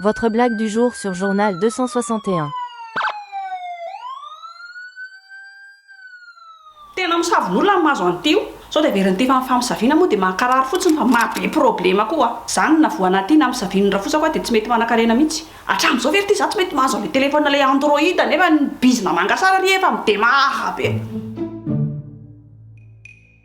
Votre blague du jour sur journal 261. Tena misavonolona ny mahazo an'ity io. Sao dia very ny tefa ny famisaviana moa dia mankarary fotsiny fa maha be problema koa zany na voana aty na misavino ny rafosako aho dia tsy mety manakarena mihitsy. Hatramin'izao ve ry ty za tsy mety mahazo an'le telephone le android nefa ny bizna mangasara ry efa midemahara be.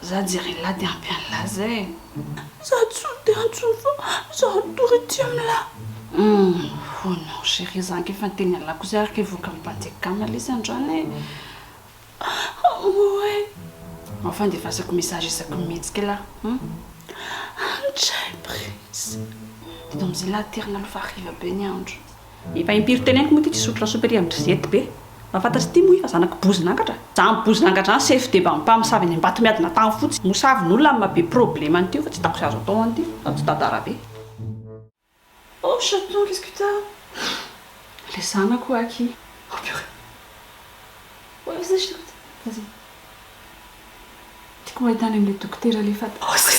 Za jeryllah de ampy anlah zay eh. Za tsy de antso fa za tory tsy amlah. Humm oh non chérie za ange efa niteny anlah kosa ary ke voakan'ny mpandeha kama lesy androany eh. Amour eh. Ao fandefasako message isaky ny mihetsika lah humm. An tray prince. Eto amzay lah aterina aloha fa hariva be ny andro. Efa impiry teneniko moa ity tsy hisotro lasopy aty amin-dry zety be. Mba fantatry ity moa i fa zanaky bozin'angatra? Zany bozin'angatra zany chef de bampa misavy any ambato miady na tany fotsy. Mosavy n'olona amin'ny maha be problème an'ity io fa tsy hitako izay azo atao an'ity fa tsy tantara be. Oh chaton qu'est-ce que t'as? Le zanako oa aky. Oh purée. Ouais vas-y je t'écoute. Vas-y. Tiako ho ahitana an'ilay dokotera le fat. Oh zay.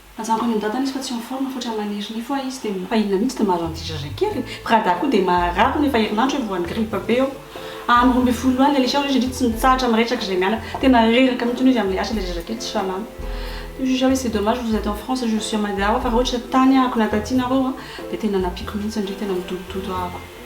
Ajanoko any andatany izy fa tsy en forme fotra maniry nify oa izy de. Fa inona mihitsy no mahazo an'ity zazay kely e? Prada koa dia maharary hono efa herinandro eo vao any grippe be eo. Andro roa ambin'ny folo loha any Alexia hono izy indry tsy mitsahatra miresaka izay mianaka. Tena reraka mihitsy hono izy amin'ilay asa ilay zazakely tsy salama. Dia juge hoe c'est dommage vous êtes en France je suis à Mada ho'a fa raha ohatra tany ahako na taty nareo ho'a dia tena nampiako mihitsy ndry tena midodododo ahako.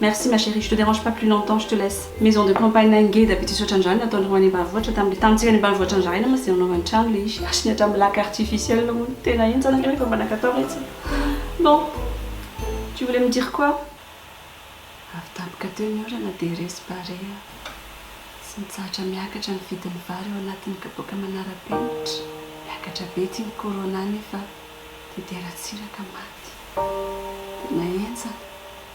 Merci ma chérie, je te dérange pas plus longtemps, je te laisse maison de campagne na ngeda be tsy misaotra an'izany nataon'ny roa any ambanivohitra tamin'ilay tany tsy any ambanivohitra nizahana mantsy dia nanaovany trano ilay izy ary ny hatramin'ny lac artificiel hono tena henjana ireo efa mba nankatao retsy bon tu voulais me dire quoi? avy tampoka teo ny orana dia resy barea tsy nitsahatra miakatra ny vidin'ny vary ao anatin'ny kapoaka manara-penitra miakatra be ity ny corona nefa dia dera tsy iraka maty tena henjana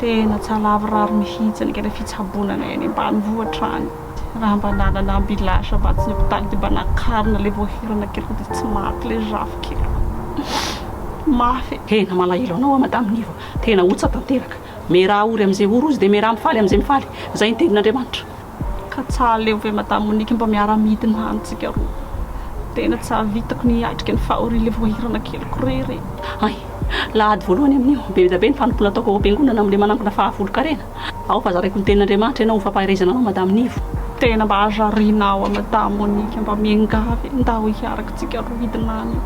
Tena tsy alavorary mihitsy ny kely fitsaboana anay any ambanivohitra any. Raha mba nanana ambulance mba tsy ny hopitaly dia mba nakarina ilay voahirana keliko dia tsy maty ilay zafy keliko. Mafy e. Tena malahelo anao aho Madame Nivo a! Tena otsa tanteraka. Meraha ory amin'izay ory ozy dia meraha mifaly amin'izay mifaly. Izay ny tendrin'Andriamanitra. Ka tsa aleo ve Madame Monique mba miara midina any tsika roa. Tena tsy ahavitako ny hiatrika ny faha avril voahirana keliko rery e. Hay! La ady voalohany amin'io. Be dia be ny fanompoana ataoko ao am-piangonana amin'ilay manangona faha folo karena. Ao fa zaraiko ny tenin'Andriamanitra ianao ho fampaherezana anao Madame Nivo. Tena mba hazariana aho a Madame Monique mba miangavy e, ndao hiaraka tsika roa hidina any eo.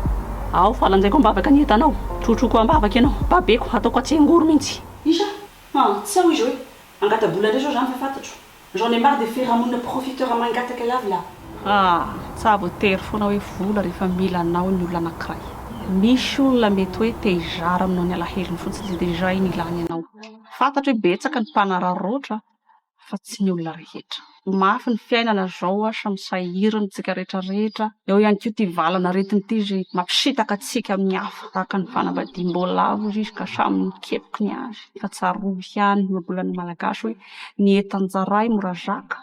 Ao fa lanjaiko am-bavaka ny entanao, trotroiko am-bavaka ianao, babeko, hataoko atsengoro mihitsy. Isa! An! tsy ao izy hoe angata-bola indray zao zany fa fantatro. J'en ai marre de firahamonina profiteur mangataka lava la. An! tsa voatery foana hoe vola rehefa mila anao ny olona anankiray. Misy olona mety hoe te hizara aminao ny alahelony fotsiny dia izay ny ilany anao. Fantatro hoe betsaka ny mpanararaotra fa tsy ny olona rehetra. Ho mafy ny fiainana zao a sa misahiry ny tsika rehetra rehetra? Eo ihany koa ty valana aretina ty ze mampisitaka antsika amin'ny hafa tahaka ny fanambadiam-bola avo izy ka samy mikepoky ny azy fa tsarovy ihany ny ohabolan'ny malagasy hoe ny entan-jaray mora zaka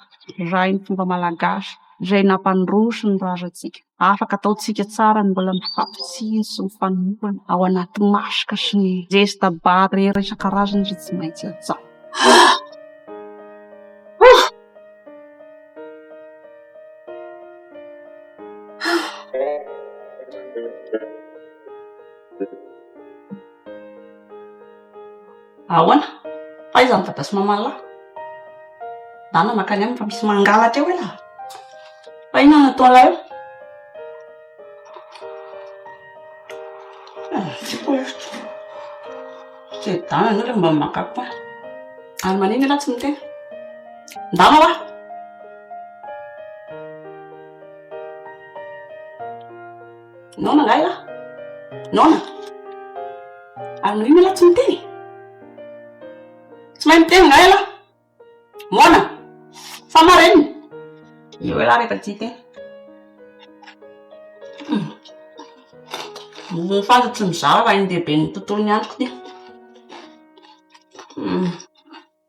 raha ny fomba malagasy izay nampandroso ny razantsika. Afaka ataontsika tsara ny mbola mifampitsiny sy mifanohana ao anaty maska sy ny zesta barrière isan-karazany izay tsy maintsy atao. Ahoana? Aiza ny dada sy maman'lah? Dana mankany aminy fa misy mangalatra eo elah! Fa inona no ataon'lah eo? Tsy koa hevitra. Tsy ry dana ianao ilay mba maka koa. Ary manina ialahy tsy miteny? Ndana oa! Naona ngahy lah? Naona? Ary noho ino ialahy tsy miteny? Tsy mahay miteny ngahy ialahy? Moana? Sa marenina? Eo ialahy rehefa tsy hiteny. Ny fanta tsy mizara raha iny lehiben'ny tontolon'ny androko ity.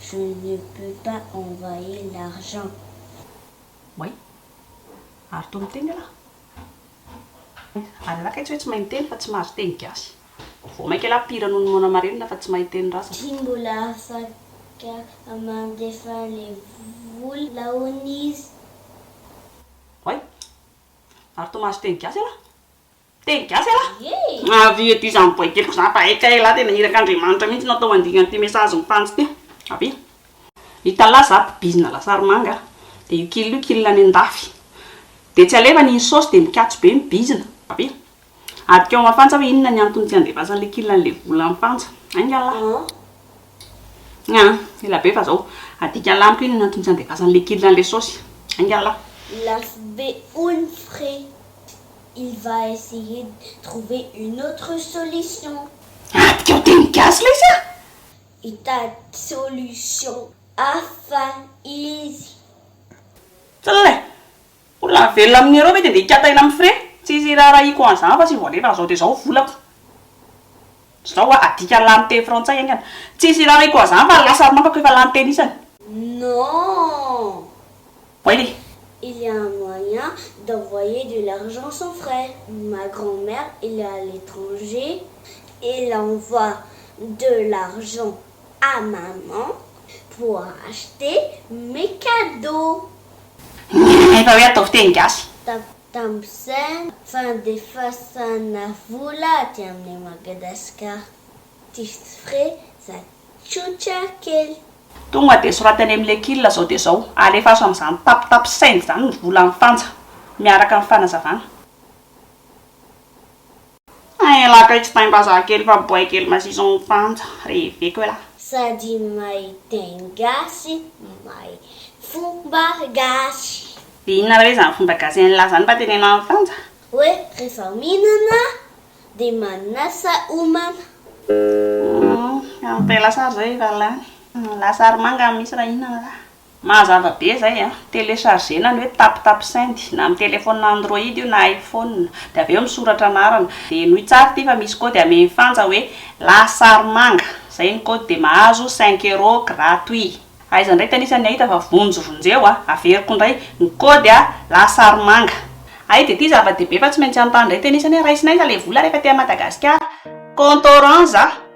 Je ne peux pas envoyer l'argent. Way. Ary toa miteny ialahy. Ary ialahy kay tsy hoe tsy mahay miteny fa tsy mahazo teny gasy. Vao maika ialahy pire noho ny moana marenina fa tsy mahay teny rasa. Tsy mbola afaka mandefa le vola laon'izy. Way. Ary toa mahazo teny gasy ialahy. Teny gasy elah! Avia ety izany boaikely-ko izany fa hay kay elah tena irak'Andriamanitra mihintsy no atao andiany an'ity message mitandjo ity. Avia. Italahy za mpibizina lasary manga a! Dia io kil io kil any an-dafy. Dia tsy alevany iny saosy dia mikatso be ny bizina. Avia. Adika ao Mafantsa hoe inona ny antony tsy andefasany ilay kil an'ilay vola any Fantsa. Ainga lah. Aa. Ela be fa zao. Adika lah amiko inona ny antony tsy andefasany ilay kil an'ilay saosy. Ainga lah. Lafo be hono frais. Il va essayer de trouver une autre solution. Adikao teny gasy lesy ah! Hitady solution hafa izy. Tsle! Olona velona amin'ny euro ve dia ndeha hikatay na mifre? Tsisy iraharahiako an'izany fa tsy vao alefa an'izao dia izao volako. Zao a, adika lany teny frantsay aingana. Tsisy hirary aiko azany fa lasa ry mankako efa lany teny isany. Non! Oui ry. Il y a un moyen d'envoyer de l'argent sans frais, ma grand mère elle est à l'étranger elle envoie de l'argent à maman pour acheter mes cadeaux. Efa hoe ataovy teny gasy. Tac Tamin'izany fandefasana vola aty amin'i Madagascar tips frais za tsotra kely. Tonga dia soraty any amin'ny lekil zao dia zao, alefaso amin'izany tap tap send zany ny vola any fanja miaraka amin'ny fanazavana. Hein elaka io tsy taimbazaha kely fa boay kely mazizo ny fanja, reveko elah. Sady mahay teny gasy mahay fomba gasy. Dia inona re izany fomba gasy an'i lah zany mba teneno amin'ny fanja? Hoe rehefa mihinana dia manasa homana. Humm, ampela sary izay efa lany. Lasary manga misy raha hihinana lah. Mahazava be zay a! Telechargena ny hoe tap tap send na amin'ny telephone android io na iphone dia avy eo misoratra anarana dia henoy tsara ity fa misy code amehy fanja hoe lahasarimanga zay ny code dia mahazo cinq euros gratuit aiza indray ty anisan'ny ahita fa vonjy vonjeo a! Averiko indray ny code a! lahasarimanga ay dia ity zava-dehibe fa tsy maintsy hanontany indray ty anisany hoe raisina aiza ilay vola rehefa aty Madagasikara? Compte orange a!